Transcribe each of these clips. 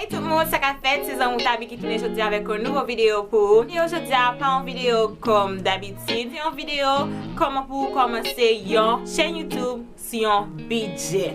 Hey tout moun, sa ka fèt, se zanmou Tabi ki tounen jodi avèk yon nouvo videyo pou ou. Videyo jodi a pa yon videyo kòm dabitid, se yon videyo kòman pou ou kòmanse yon chèn YouTube sou yon bidjè.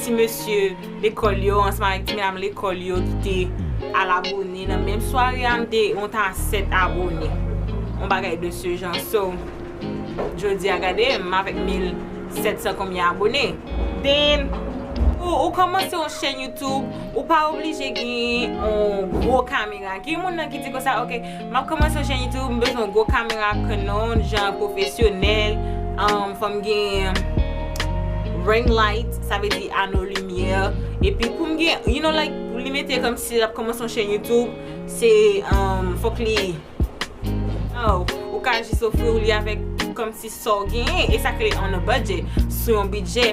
ti mesye lekòl yo ansanm avèk ti medam lekòl yo ki te al abone nan menm sware a m te on ta 7 abone on bagay de se jan so jodi a gade m avèk 1700 konbyen abone den pou ou kòmanse on chèn youtube ou pa oblije gen on gwo kamera gen moun nan ki di konsa ok Map komanse chen youtube m bezwen gwo kamera canon jan pwofesyonèl fòm gen ring light sa vle di ano limyè epi poum gen you know like pou li mete kòm si lap komanse yon chen youtube se fòk li ou ka jis ofri ou li avèk kòm si sa w genyen e sa k rele on a budget sou yon bidjè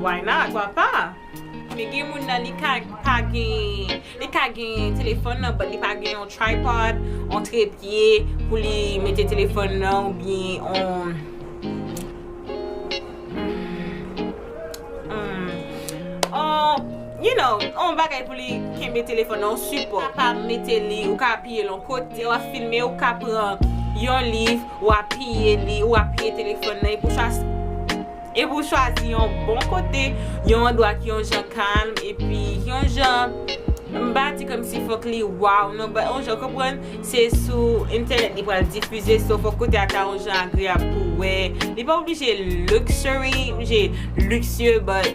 Why not? Pwa pa? Men gen moun nan li ka pa gen, li ka gen telefòn nan but li pa gen yon tripod, yon trepye pou li mete telefòn nan ou byen yon yon you know, yon bagay pou li kenbe telefòn nan, yon sipò. Ou ka mete li, ou ka apiye l yon kote, lè w ap filme ou ka pran yon liv ou apiye li, ou apiye telefòn nan epi w chase. Epi ou chwazi yon bon kote, yon andwa ki yon jan kalm epi yon jan m pa di kòmsi fòk li waw non but yon jan konprann se sou entènèt li pral difize so fòk kote a ta yon jan agreyab pou wè. Li pa oblije luxury, oblije luxueux but.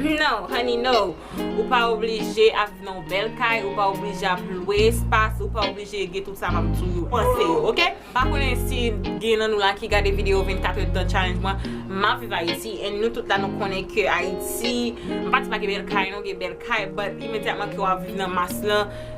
No honey no, ou pa oblije ap viv nan yon bèl kay, ou pa oblije ap lwe espas, ou pa oblije gen tout sa map di yo, panse yo ok. M pa konnen si gen nan nou la ki gade video 24 heures de temps challenge mwen, map viv Ayiti and nou tout la nou konnen ke Ayiti, m pa di pa gen bèl kay non, gen bèl kay but imedyatman ke wap viv nan mas lan,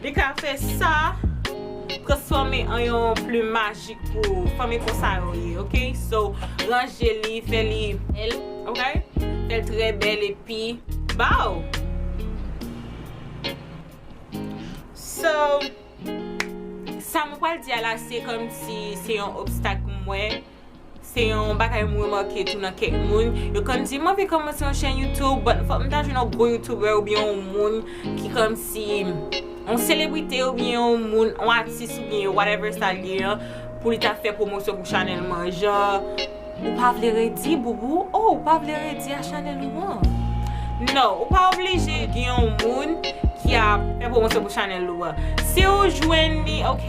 Li ka fè sa transfòme an yon plume majik pou ou fanmi konsa yo ye ok so ranje li fè li bèl ok fèl trè bèl epi baw so sa mwen pral di a la se kòmsi se yon obstak mwen. Se yon bagay m remake tou nan kèk moun, yo konn di m anvi kòmanse yon chèn YouTube but fòk m ta jwenn yon gwo YouTuber oubyen yon moun ki kòmsi yon selebrite oubyen yon moun, yon atis oubyen yo whatever sa l ye an pou li ta fè pwomosyon pou chanèl m an. Jan ou pa vle redi boubou, oh ou pa vle redi a chanèl ou an. No, ou pa oblije gen yon moun ki ap fè pwomosyon pou chanèl ou an. Si ou jwenn li ok.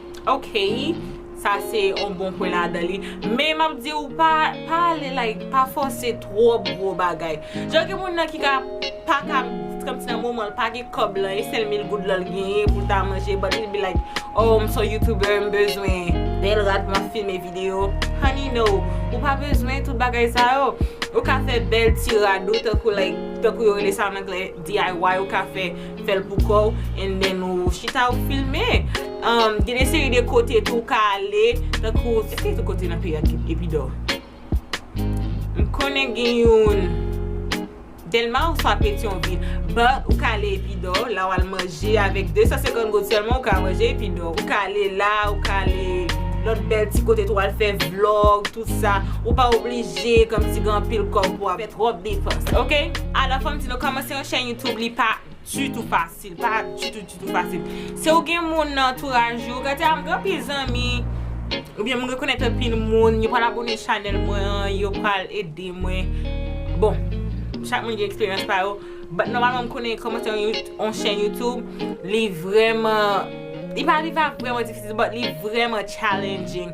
Ok sa se yon bon pwen ladan li men map diw pa ale like pa fòse twòp gwo bagay jan gen moun nan ki ka pa ka kòmsi nan moman l pa gen kòb lan e sèl mil goud lan l genyen pou l ta manje but he be like oh m son youtuber m bezwen bèl rad pou m ap filme video honey no ou pa bezwen tout bagay sa yo ou ka fè bèl ti rad ou tankou like tankou yo rele sa an anglè DIY ou ka fè Fèl pou kòw and then ou chita ou filme um gen de seri de kote tou ou ka ale tankou eske gen kote nan peyi a ki epi dò m konnen gen youn dèlma oswa petyonvil but ou ka ale epi dò la wal manje avèk 250 goud sèlman ou ka manje epi dò ou ka ale la ou ka ale lòt bèl ti kote tou al fè vlog tout sa ou pa oblije kòmsi gen anpil kòb pou wap Trop defans ok Ala fanm di nou komanse yon chèn youtube li pa dutou fasil pa dutou dutou fasil se ou gen moun nan antouraj ou gade a m gen anpil zanmi oubyen m rekonèt anpil moun yo pral abone chanèl mwen an yo pral ede mwen bon chak moun gen eksperyans pa yo but nòmalman m konnen komanse yon chèn youtube li vrèman li pa li pa vrèman difisil but li vrèman challenging.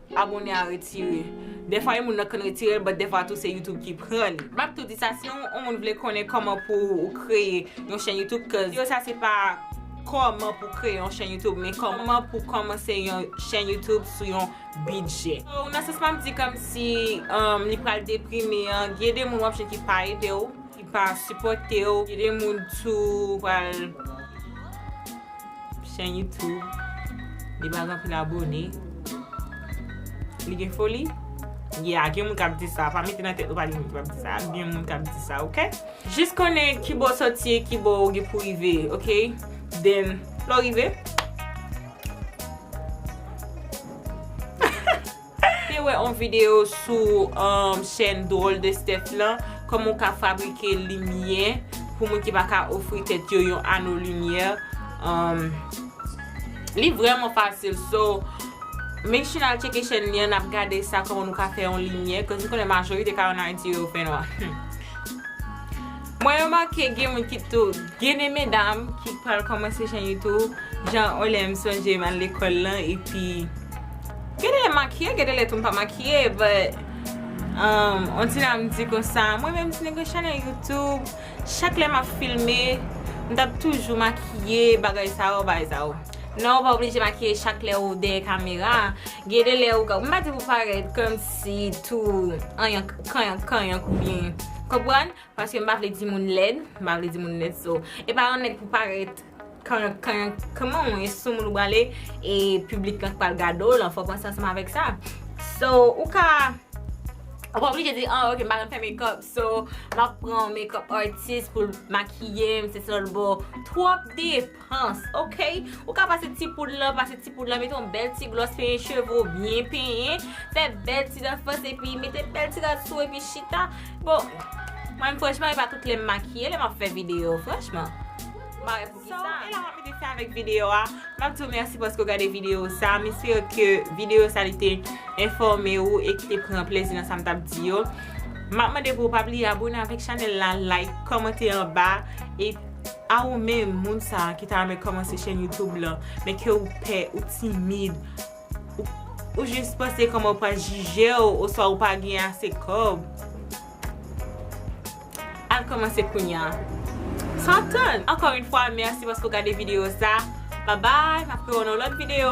Abone a retire. Dèfwa yon moun nan konn retirel but dèfwa tou se YouTube ki prann. Map tou di sa si yon moun vle konnen kòman pou ou kreye yon chèn YouTube cuz video sa se pa kòman pou kreye yon chèn YouTube men kòman pou kòmanse yon chèn YouTube sou yon bidjè. So nan sans map di kòmsi li pral deprime an gen de moun wap jwenn ki pa edew, ki pa sipòtew, gen de moun tou pral. Chen YouTube li bag anpil abone. Li gen foli? Yeah, gen moun kap di sa. Pa mete nan tèt ou pa gen moun ki pap di sa. Gen moun kap di sa ok. Jis konnen kibò w sòti e kibò ou gen pou rive ok. Then lè w rive. Te wè on video sou chèn Drôle de Steph lan, kòman ou ka fabrike limyè pou moun ki pa ka ofri tèt yo yon ano limyè. Li vrèman fasil so, make sure nal tcheke chèn li an nap gade sa kòman nou ka fè yon limyè, cause m konnen majorite kay an Ayiti yo yo fè nwa. Mwen remake gen moun ki tou gen de medam ki pral komanse chen youtube jan yon lè m sonje m al lekòl lan epi gen de lè m makiye gen de lè tou m pa makiye but on ti jan m di konsa mwen menm ti nèg yon chanèl youtube chak lè m ap filme m t ap toujou makiye bagay sa yo bagay sa yo non ou pa oblije makiye chak lè ou dèyè kamera gen de lè ou ka m pa di pou parèt kòmsi tou anyank kanyank kanyank ou byen konprann Paske m pa vle di moun lèd, m pa vle di moun lèd so e pa yon nèg pou parèt kanrank kanrank kman w ye soumoun ou prale e piblik lan k pral gade w lan fò w panse ansanm avèk sa so ou ka ou pa oblije di ah ok m pa konn fè mekòp so m ap pran yon mekòp atis pou l makiye m se sèl bò twòp deep. Panc ok ou ka pase ti poud lan pase ti poud lan mete yon bèl ti glòs penyen cheve ou byen penyen fè bèl ti dan fòs epi mete bèl ti rad sou epi chita bon mwen franchman e pa tout lèm makiye lèm ap fè video franchman mare pou ki sa e la mwen mete fè avèk video a map di ou mèsi paske ou gade video sa m espere ke video sa li te enfòme ou e ki te pran plezi nan sa m tap di yo map mande pou ou pa bliye abone avèk chanèl la like kòmante anba e. A ou menm moun sa ki ta renmen kòmanse chèn YouTube lan men ke ou pè, ou timid, ou ou jis panse kòman yo pral jijew oswa ou pa gen ase kòb, al kòmanse kounya san tann! Ankò yn fwa mèsi paske ou gade video sa, babay, map wè w nan lòt video.